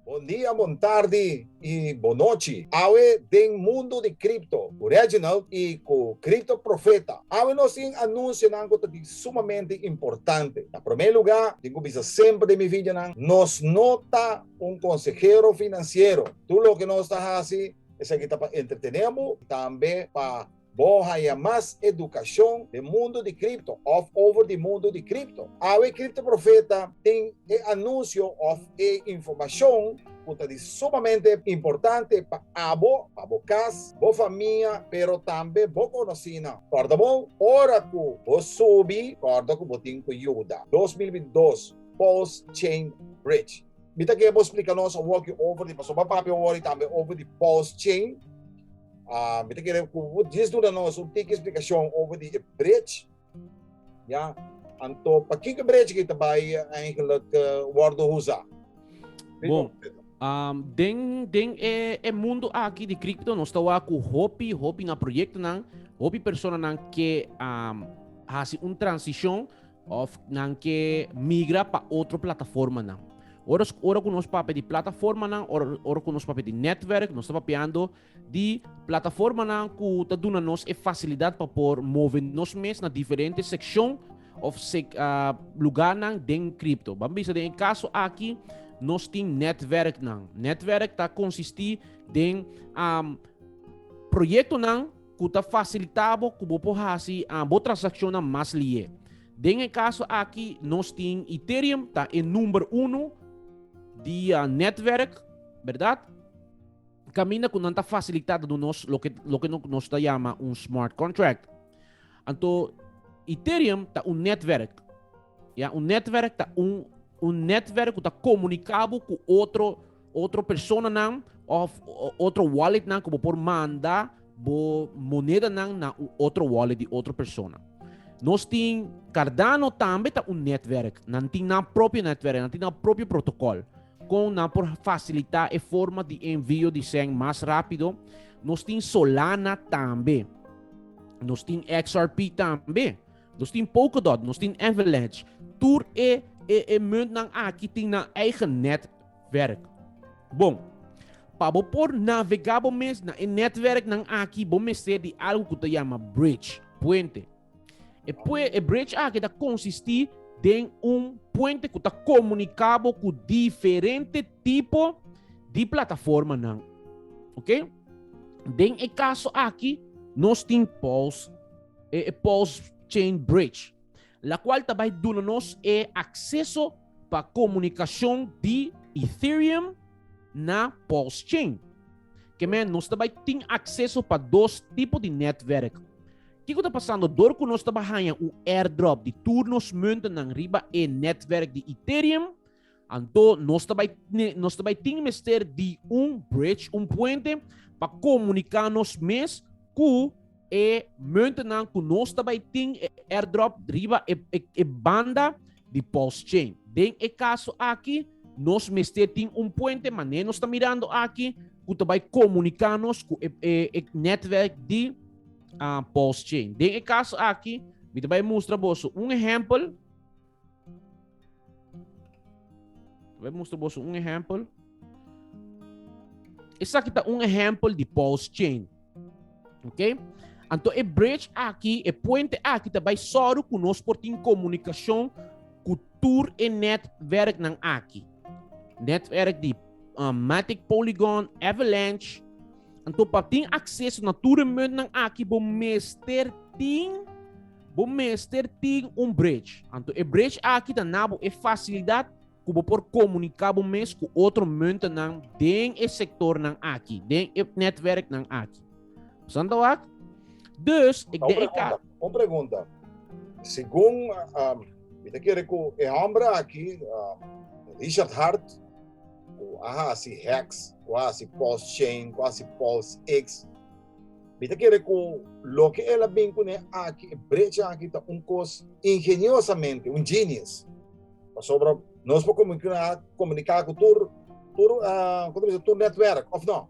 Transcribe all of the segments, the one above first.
Bon dia, bon tardi y bon nochi. Awe den mundo di Crypto cu Reginald y cu Crypto Profeta. Awe nos tin anunsionan cu ta di sumamente importante. Na prome luga, tin cu bisa semper den mi videonan, nos no ta un consehero financiero. Tur loke nos ta haci esaki ta pa entretene bo y tambe pa. Bo haña mas edukashon den mundu di kripto òf over di mundu di kripto? Awe e kriptoprofeta tin e anunsio òf e informashon ku ta di sumamente importante pa abo, pa bo kas, bo famia, pero tambe bo konosínan. Kòrda bo, ora ku bo subi, kòrda ku bo tin ku yuda. Dos mil bintidós, Pulse Chain Bridge. Mi ta ke bo splika nos un wokio over di pasobra pape wòri tambe over di Pulse Chain. Uh, mi te kere ku bo dis duna nos un tiki eksplikashon over di e bridge. Ja, anto pa kiko bridge ki te bai eigenlijk uh, eh, wordo usa. Bon, um, den, den e, e mundo aki di crypto nos ta wa ku hopi, hopi na proyekto nan, hopi persona nan ke um, hasi un transishon of nan ke migra pa otro plataforma nan. Ora, ora ku nos pape di plataforma nan, ora, ora ku nos pape di netwerk, nos ta papeando di plataformanan ku ta duna nos e fasilidat pa por move nos mes na diferente sekshon of lugarnan den kripto. Ban bisa den e kaso aki nos tin nètwèrknan. Nètwèrk ta konsistí den proyektonan ku ta fasilitá bo ku bo por hasi bo transakshonnan mas lié. Den e kaso aki nos tin Ethereum ta e number uno di nètwèrk, bèrdat? kaminda ku nan ta fasilitá ta duna nos loke loke nos ta yama un smart contract. Anto Ethereum ta un netwerk. Ya, un netwerk ta un un netwerk ku ta komunikabo ku otro otro personanan of otro walletnan ku bo por manda bo monedanan na un otro wallet di otro persona. Nos tin Cardano tambe ta un netwerk. Nan tin nan propio netwerk, nan tin nan propio protokol. Kon nan por fasilitá e forma di envio di sèn mas rápido? Nos tin Solana tambe. Nos tin XRP tambe. Nos tin Polkadot, nos tin Avalanche. Tur e, e, e muntnan aki tin nan eigen netwerk. Bon, pa bo por navegá bo mes na e netwerknan aki, bo mester di algu ku ta yama bridge, puente. E pue, e bridge aki ta konsistí den un puente ku ta komuniká bo ku diferente tipo di plataformanan. Ok? Den e kaso aki, nos tin pulse, e, e pulse chain bridge, la kual ta bai duna nos e akseso pa komunikashon di Ethereum na pulse chain. Ke men, nos ta bai tin akseso pa dos tipo di netwerk. Kiko ta pasando dor ku nos ta bai haña un airdrop di tur nos muntennan riba e nètwèrk di Ethereum? Anto nos ta bai nos ta bai tin mester di un bridge, un puente, pa komuniká nos mes ku e muntennan ku nos ta bai tin e airdrop riba e, e, e banda di Pulse Chain. Den e kaso aki, nos mester tin un puente, mané nos ta mirando aki, ku ta bai komuniká nos ku e, e, e nètwèrk di uh, pulse chain. Den e caso aquí, mi te vai mostrar boso un ejemplo. Vai mostrar boso un ejemplo. Essa aqui tá um exemplo de pulse chain. Ok? Então, o bridge aqui, o puente aqui, tá vai só com nós por ter comunicação com tour e netwerk nan aqui. Netwerk de uh, Matic Polygon, Avalanche, Anto pa tin acceso na tur e muntnan aki bo mester tin bo mester tin un bridge. Anto e bridge aki ta na bo e facilidad cu bo por comunica bo mes cu otro muntennan den e sectornan aki, den e netwerknan aki. Santo wak? Dus, ik den e ka... Un pregunta. Segun, um, mi ta kere cu e hombre aki, um, Richard Hart, ku a hasi hex, ku a hasi pulse chain, ku a hasi pulse X. Mi ta kere ku loke el a bin kuné aki, e brecha aki ta un kos ingeniosamente, un genius. Pasobra nos por komuniká ku tur, tur, kos ta bisa, tur netwerk, òf no?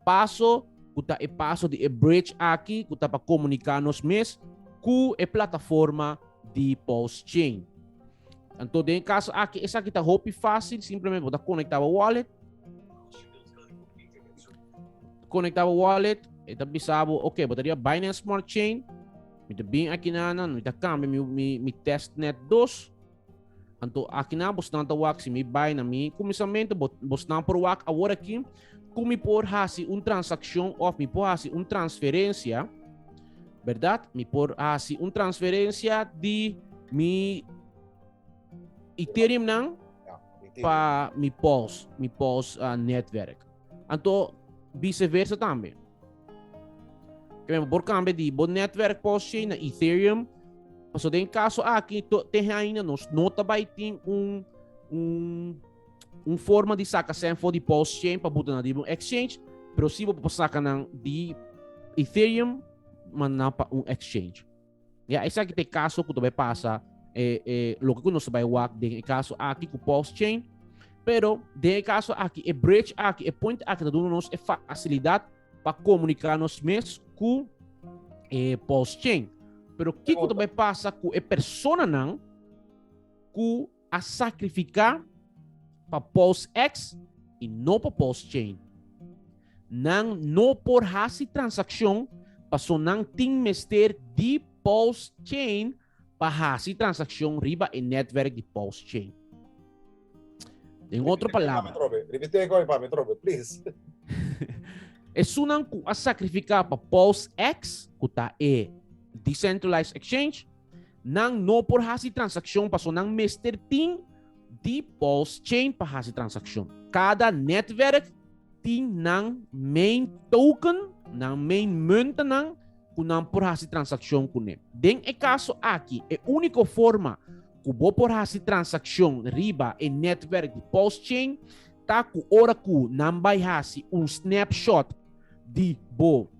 Paso ku ta e paso di e bridge aki ku ta pa komuniká nos mes ku e plataforma di Pulse Chain. Anto den e kaso aki esaki ta hopi fásil, simplemente bo ta konektá bo wallet, konektá bo wallet, e ta bisa bo, ok, bo ta riba Binance Smart Chain, mi ta bin aki na nan, mi ta kambia mi, mi, mi testnet dos, Anto akina bosnan ta wak si mi bai na mi kuminsamentu bosnan por wak awor aki ku mi por hasi un transakshon of mi por hasi un transferensia, berdat? Mi por hasi un transferensia di mi Ethereum nan pa mi Pulse, mi Pulse uh, netwerk. Anto viceversa tambe. Kaya mo por cambia di bo netwerk posje na Ethereum. Paso den kaso aki, to te haina nos no tabay tin un, un, un forma di saka sen for di posje pa buta na di un exchange, pero si bo pa saka nan di Ethereum, man na pa un exchange. Ya esaki te kaso ku ta bai pasa e e loke ku nos ta bai wak den e kaso aki ku pulse chain. Pero den e kaso aki e bridge aki, e puente aki ta duna nos e fasilidat pa komunika nos mes ku e pulse chain. Pero kiko ta bai pasa ku e personanan ku a sacrifica pa pos ex y no pa pos chain. Nan no por haci transaccion paso nan tin mester di pos chain pa haci transaccion riba e netwerk di pos chain. Den otro palabra. Repite goe pa mi trobe, please. Esunan cu a sacrifica pa pos ex, cu ta e decentralized exchange, Nan no por hasi transakshon paso nan mester tin di pulse chain pa hasi transakshon. Kada netwerk tin nan main token, nan main muntenan ku nan por hasi transakshon kuné. Den e kaso aki, e úniko forma ku bo por hasi transakshon riba e netwerk di pulse chain ta ku ora ku nan bai hasi un snapshot di bo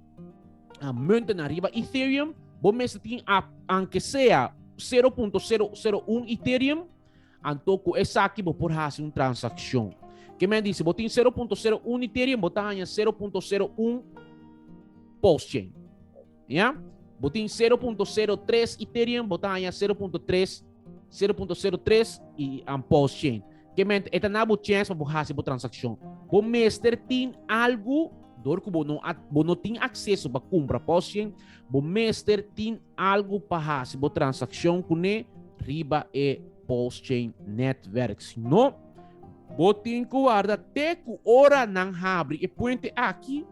a munten na riba Ethereum, bo mester tin a, aunque sea 0.001 Ethereum, anto ku esaki bo por hasi un transakshon. Ke men disi, bo tin 0.01 Ethereum, bo ta hanja 0.01 postchain. Ya? Bo tin 0.03 Ethereum, bo ta hanja 0.3 0.03 y and post chain. Que mente esta na bo chance pa bo hace bo transacción. Bo mester tin algo door cu bo no bo no tin acceso pa compra post chain, bo mester tin algo pa hace bo transacción cune riba e post chain netwerk. Si no, bo tin cu warda te cu ora nan habri e puente aki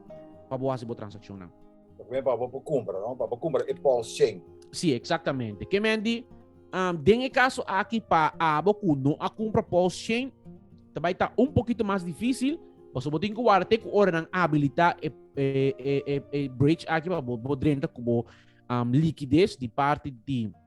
pa bo hace bo transacción nan. Ta pone pa bo por cumpra, no? Pa bo cumpra e pulse chain. Sí, exactamente. Ke men di, um, den e caso aki pa abo cu no a cumpra pulse chain, ta bai ta un poquito mas difícil, paso bo tin cu wara te cu ora nan habilita e, e, e, e, e bridge aki pa bo, bo drenta cu bo um, liquidez di parte di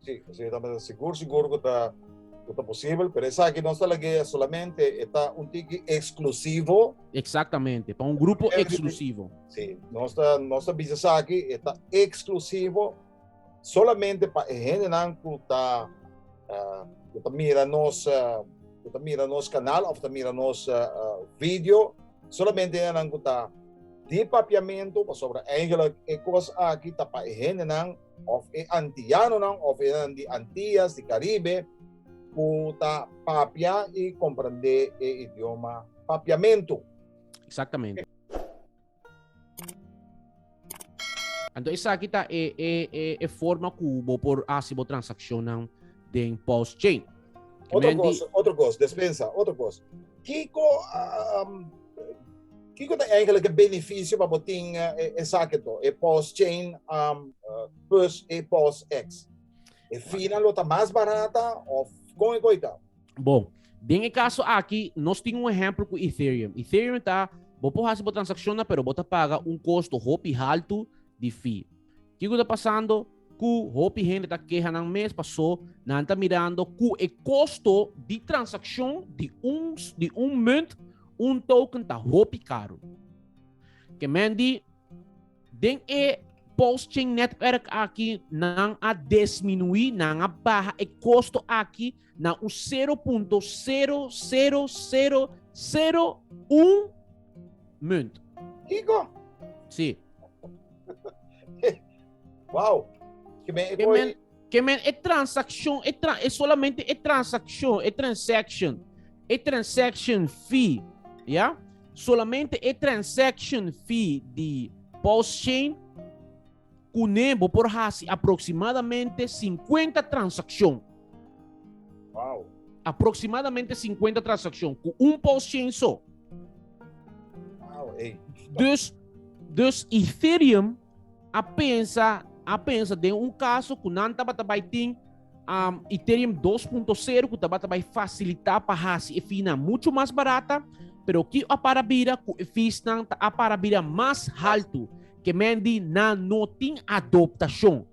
Sí, sí, ta mester sigur, sigur cu ta, cu ta posible, pero esaki nos ta lag'é solamente e ta un tiki exclusivo. Exactamente, pa un grupo Yes, exclusivo. Sí, nos ta, nos ta bisa esaki, e ta exclusivo solamente pa e hendenan cu ta, ah, cu ta mira nos, ah, cu ta mira nos canal of ta mira nos ah, ah, video, solamente hendenan cu ta di papiamento, pasobra eigenlijk e cos aki ta pa e hendenan of e antiyanonan of enan di Antias, di Karibe, ku ta papia i komprendé e idioma papiamentu. Eksaktamente. Anto esaki ta e, e, e, e forma ku bo por hasi bo transakshonnan den Pulse Chain. Otro kos, otro kos, despensa, otro kos. Kiko um, Kiko ta eigenlijk e beneficio pa bo tin uh, e, e sake to, e pos chain um, uh, plus e pos X? E fina lo ta mas barata of kon e koita? Bon, den e caso aki, nos tin un ejemplo ku Ethereum. Ethereum ta, bo po hasi bo transacciona, pero bo ta paga un costo hopi haltu di fee. Kiko ta pasando ku hopi hende ta keha nan mes pasó nan ta mirando ku e kosto di transakshon di un di un munt, un token ta hopi karu. Ke men di den e post-chain netwerk aki nan a desminuí, nan a baha e kosto aki na un sero punto sero sero sero sero un Munt. Igo? Si. wow. Ke men e koi? Ke men e transakshon, e, tra, e solamente e transakshon, e transaction, e transaction fee, ya? Yeah? Solamente e transaction fee di post chain Kuné bo por hasi aproksimadamente sinkuenta transakshon. Wow! Aproksimadamente sinkuenta transakshon ku un pos shen so. Wow, ey. Dus, dus Ethereum a pensa, a pensa den un kaso ku nan tabata bai tin um, Ethereum 2.0 ku tabata bai fasilitá pa hasi e fina mucho mas barata, pero ki a para bira ku e feesnan ta a para bira mas haltu. Ke men di nan no tin adoptashon,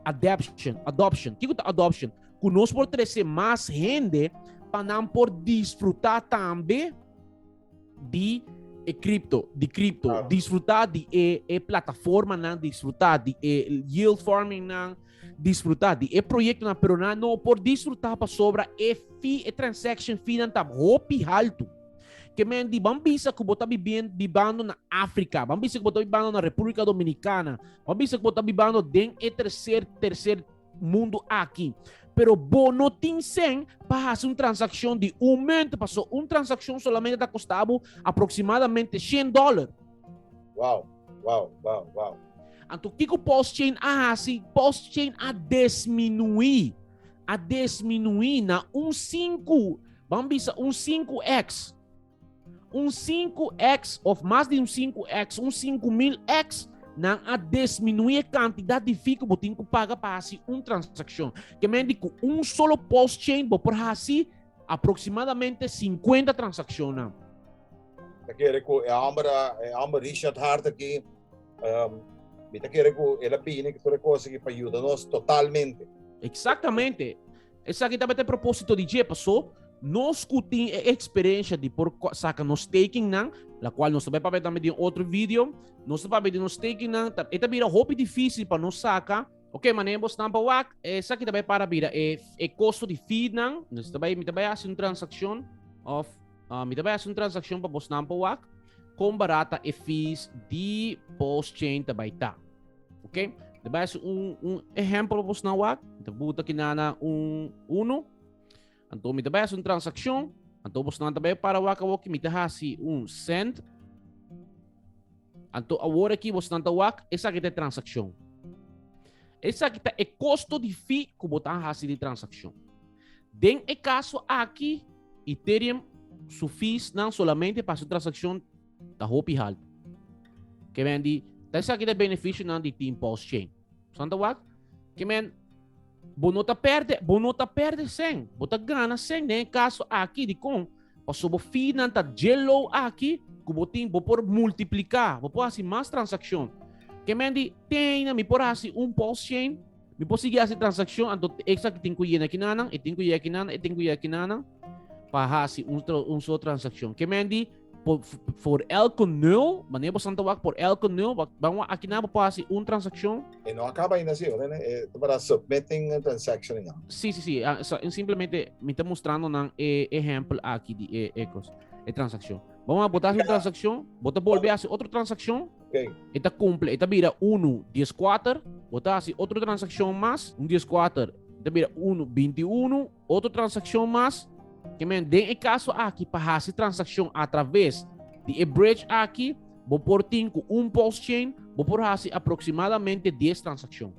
adaption, adoption. Kiko ta adoption? Ku nos por trese mas hende pa nan por disfrutá tambe di e kripto, di kripto, ah. disfrutar di e, e plataforma nan, disfrutar di e yield farming nan, disfrutar di e proyecto nan, pero nan no por disfrutar pa sobra e fee, e transaction fee nan ta hopi haltu. Ke men di, ban bisa ku bo ta bibien, bibando na Afrika, ban bisa ku bo ta bibando na Republika Dominikana, ban bisa ku bo ta bibando den e terser, terser mundu aki. Pero bo no tin sen pa hasi un transakshon di un munt, paso un transakshon solamente ta kosta bo aproksimadamente shen dòler. Wow, wow, wow, wow. Anto kiko Pulse Chain a hasi? Pulse Chain a desminuí a desminuí na un sinku, ban bisa un sinku eks, un sinku eks of mas di un sinku eks, un sinku mil eks, nan a desminuí e kantidat di fee ku bo tin ku paga pa hasi un transakshon. Ke men di ku un solo pos chain bo por hasi aproksimadamente 50 transakshonnan. Ta kere ku e hòmber, e hòmber Richard Hart aki, um, mi ta kere ku el a bini ku tur e kos aki pa yuda nos totalmente. Eksaktamente. Esaki tabata e propósito di dje, pasó nos ku tin e eksperensia di por saka nos tekennan, la kual nos ta bai papia tambe den otro video, nos ta papia di nos tekennan, ta, e ta bira hopi difísil pa nos saka, Ok, mané, bo stampa wak, e saki ta bai para bira e, e kosto di feednan, nos ta bai, mi ta bai hasi un transakshon, of Uh, mi ta bai haci un transacción pa bos nan pa wak. Con barata e fees di post chain ta bai ta. Ok? De bai haci un, un ejemplo pa bos nan wak. Te buta ki nana un uno. Anto mi ta bai haci un transacción. Anto bos nan ta bai para wak a wak. Mi ta haci un send. Anto awor aquí bos nan ta wak. Esa ki ta transacción. Esa ki ta e costo di fee ku botan haci di transacción. Den e caso aki, Ethereum su fees nan solamente pa su transaccion ta hopi halto. Que men di, ta esaki ta beneficio nan di Team Pulse Chain. Santa wak? Que men, bo no ta perde, bo no ta perde sen, bo ta gana sen den e caso aki di con, paso bo fee nan ta dje low aki, cu bo tin, bo por multiplica, bo por haci mas transaccion. Que men di, te ayina mi por haci un Pulse Chain, Mi por sigui hasi transakshon, anto eksa ki tin ku yena ki nanan, e tin ku yega ki nanan, e tin ku yega ki nanan, pa hasi un, un so transakshon. Ke men di, por, for elke nul, mane bo santa wak, por elke nul, wak, ban wak, aki na bo por hasi un transakshon. E no akaba ainda si, ora, e para submitting a transaction inga. Si, si, si, ah, so, simplemente mi ta mostrando nan e ehempel aki di e, e kos, e transakshon. Ban wak, bo ta hasi un transakshon, bo ta bolbe hasi otro transakshon, Okay. E ta cumple, e ta bira uno, dies cuater, bo ta haci otro transaccion mas, un dies cuater, e ta bira uno, binti uno, otro transaccion mas, que men, den e caso aki, pa haci transaccion a traves di e bridge aki, bo por tin cu un pulse chain, bo por haci aproximadamente dies transaccion.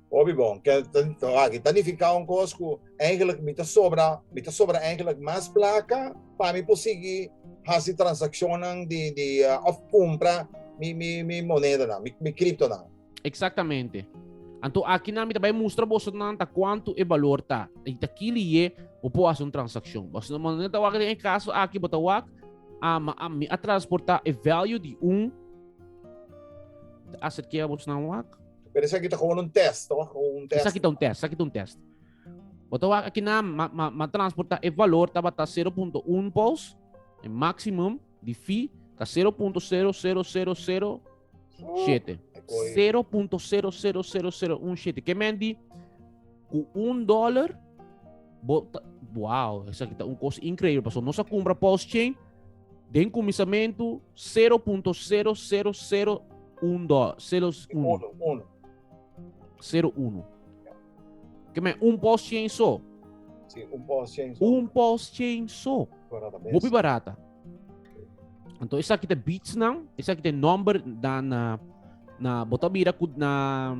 Hopi bon, ke aki ta nifiká un kos ku eigelik mi ta sobra, mi ta sobra eigelik mas plaka pa mi por sigui hasi transakshonnan di di òf kumpra mi mi mi monedanan, mi kriptonan. Eksaktamente. Anto akinan mi ta bai mustra boso nan ta kuantu e balor ta. I ta ki liye bo por hasi un transakshon. Bos no manera ta wak den e kaso aki, bo ta wak, a ma a mi a transportá e value di un, ta aser ke a bos nan wak? Pero esaki ta gewoon un test, toch? Un test. Esaki ta un test, esaki ta un test. Boto wak aki na ma, ma, ma transporta e valor tabata 0.1 pols, e maximum di fi ta 0.00007. 0.00007. Ke men di Ku un dollar, bo ta, wow, esaki ta un kos inkreibel, paso nos a kumpra pulse chain, den kuminsamentu, 0.0001 dollar, 01. 01. Ke men, un pulse chain so. Sí, un pulse chain so. Un pulse chain so. Barata bes. Hopi barata. Anto esa kita beats nan, esa kita number dan na na bota bira ku na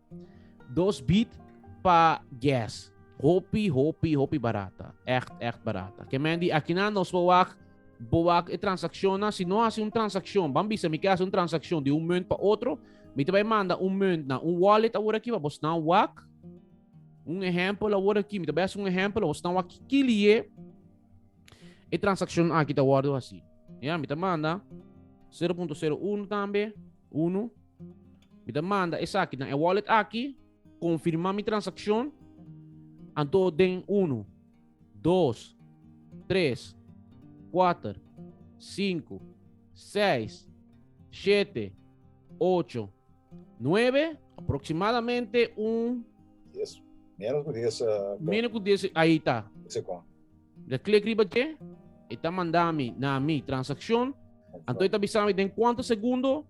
Dos bit pa gas. Hopi, hopi, hopi barata. Echt, echt barata. Ke men di, akina nos bo wak, bo wak e transakshon na, si no hasi un transakshon, ban bisa mi ke hasi un transakshon di un munt pa otro, mi ta bai manda un munt na un wallet awor aki pa bos nan wak. Un ehèmpel awor aki, mi ta bai hasi un ehèmpel pa bos nan wak ki kili'e e transakshon aki ta wòrdu hasi. Ya, mi ta manda 0.01 tambe, unu. Mi ta manda esaki na e wallet aki, konfirma mi transakshon, anto den unu, dos, tres, kuater, sinku, seis, shete, ocho, nuebe, aproksimadamente un. Dies. Menos ku dies. Menos ku dies, ahi ta. Ese konto. Da klik riba dje, e ta manda mi na mi transakshon, anto e ta bisa mi den kuantu segundo,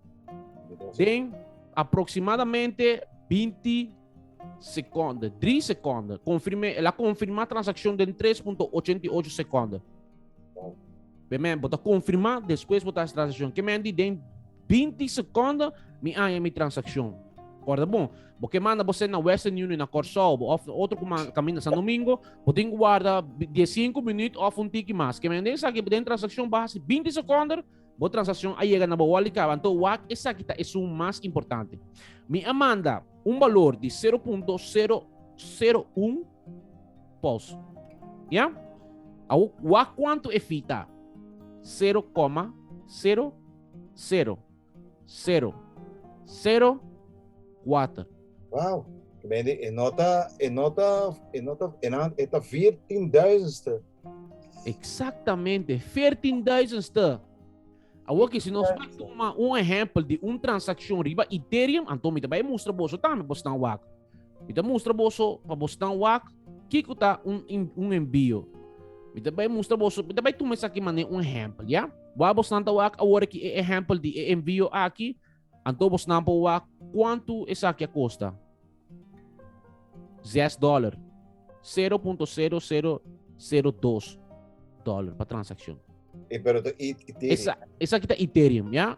den aproksimadamente binti sekonde, dri sekonde, konfirm'é, el a konfirmá transakshon den tres punto ochenta i ocho sekonde. P'e men, bo ta konfirmá, despues bo ta hasi transakshon. Ke men di den Binti secondo mi aña mi transaccion. Corda bon, bo ke manda bose na Western Union, na Corsou, of na otro camina San Domingo, bo tin guarda 15 minuut of un tiki mas. Ke mende esaki bo den transaccion baha si 20 secondo, bo transaccion a yega na bo wallet caba. Anto wak esaki ta e sum mas importante. Mi a manda un balor di 0.001 pos. Ya? Awo, wak cuanto e fee ta? 0,0 sero, sero, sero, kuater. Wauw! Medi e no ta, e no ta, e no ta, e nan, e ta veertien duizendste. Exactamente, veertien duizendste. Awor que si nos va toma un ejemplo de un transacción riba Ethereum, anto mi te vai mostra boso tambe, bos nan wak. Mi ta mustra boso pa bosnan wak kiko ta un, un enbio. Mi ta bai mustra boso, mi ta bai tuma esaki mané un ehempel, ya? Wa bosnan ta wak awor ki e ehempel di e enbio aki, anto bosnan por wak kuantu esaki a kosta. 6 dollar. 0.0002 dollar pa transakshon. E pero ta Ethereum. Esa, esaki ta Ethereum, ya?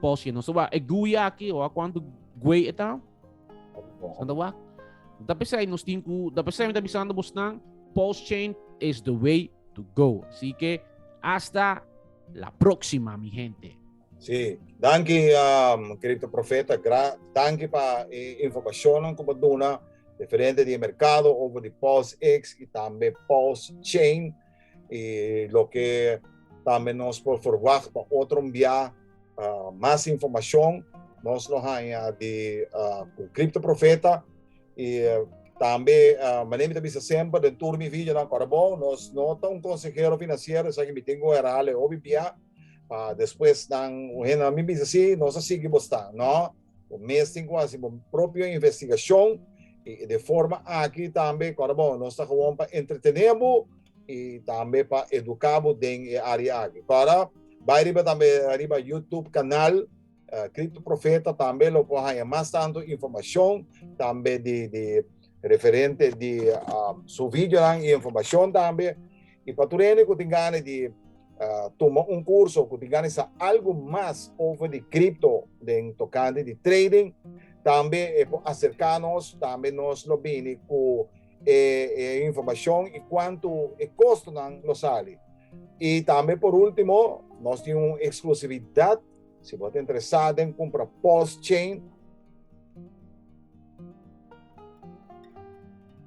Poshi, no soba e gui aki, o a cuanto gui eta. Santa wak. Da pesai nos tin ku, da pesai mi ta bisando bos nan, post chain is the way to go. Así que hasta la próxima mi gente. Sí, danki um, Crypto Profeta, gra, danki pa e informacionan ku pa duna referente di mercado over di POSX y tambe POS chain. y loke tambe nos por verwachta otro mbia mas informacion nos lo haña di cu Crypto Profeta y tambe manera mi ta bisa semper den tur mi videonan ora bo nos no ta un consehero financiero esaki mi tin cu herala e hopi bia pa despues nan un hende mi bisa si nos a sigui bo stan no. Bo mes tin ku hasi bo propio investigashon i de forma aki tambe kor bo nos ta gewon pa entretené bo i tambe pa eduká bo den e área aki. Kor bai riba tambe riba YouTube kanal Kripto Profeta tambe lo por haña mas tantu informashon tambe di referente di su videonan i informashon tambe. I pa tur hende ku tin gana di tuma un kurso o ku tin gana di sa algu mas over di kripto den tokante di trading tambe e por aserká nos, tambe nos lo bini ku e e informashon i kuantu e kostonan lo sali. I tambe por último nos tin un eksklusividat Si bo ta interesá den kumpra pulse chain,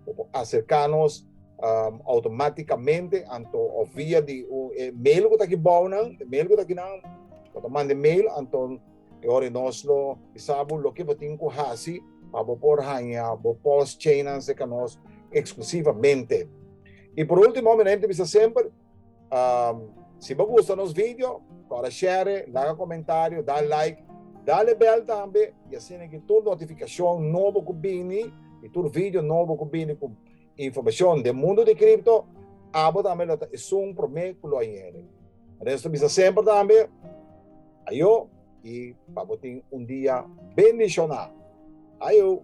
bo por aserká nos um, automáticamente anto o via di un e mail ku ta ki bou nan, e mail ku ta ki nan, bo ta mande mail anto e ori nos lo bisabu lo ke bo tin ku hasi pa bo por haña bo pulse chain nan seka nos eksklusivamente. I por último, mi na bisa semper, Um, si bo gusta nos video, kora share, laga comentario, da like, dale bel tambe, y así que tur notificación nobo ku bini, y tur video nobo ku bini ku información de mundo de cripto, abo tambe lo ta esun prome ku lo ayere. Resto bisa sempre tambe, ayo, y pabotin un dia bendicionado. Ayo!